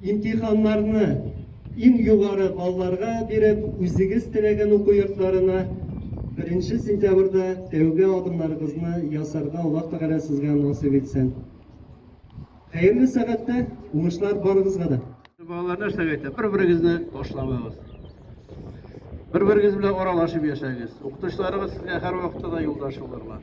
Имтиханнарны иң югары балларга биреп, үзегез теләгән уку йортларына беренче сентябрьдә тәүге адымнарыгызны ясарга Аллаһ Тәгалә сезгә насыйп итсен. Хәерле сәгатьтә уңышлар барыгызга да! Балалар нәрсә әйтә? Бер-берегезне ташламагыз. Бер-берегез белән аралашып яшәгез. Укытучыларыгыз сезгә һәрвакытта да юлдаш булырлар.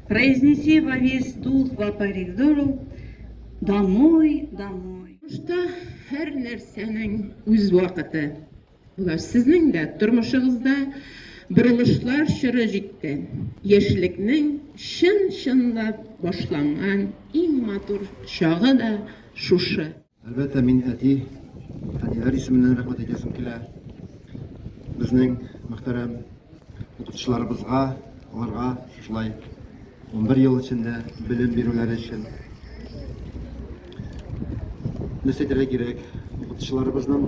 Произнеси во весь дух во коридору домой, домой. Тормышта һәр нәрсәнең үз вакыты. Булаш, сезнең дә тормышыгызда борылышлар чоры җитте. Яшьлекнең чын-чынлап башланган иң матур чагы да шушы. Әлбәттә, мин әти, әниләр исеменнән рәхмәт әйтәсем килә. Безнең мөхтәрәм укытучыларыбызга, аларга шулай 11 ел эчендә белем бирүләре өчен. Нәрсә әйтергә кирәк? Укытучыларыбызның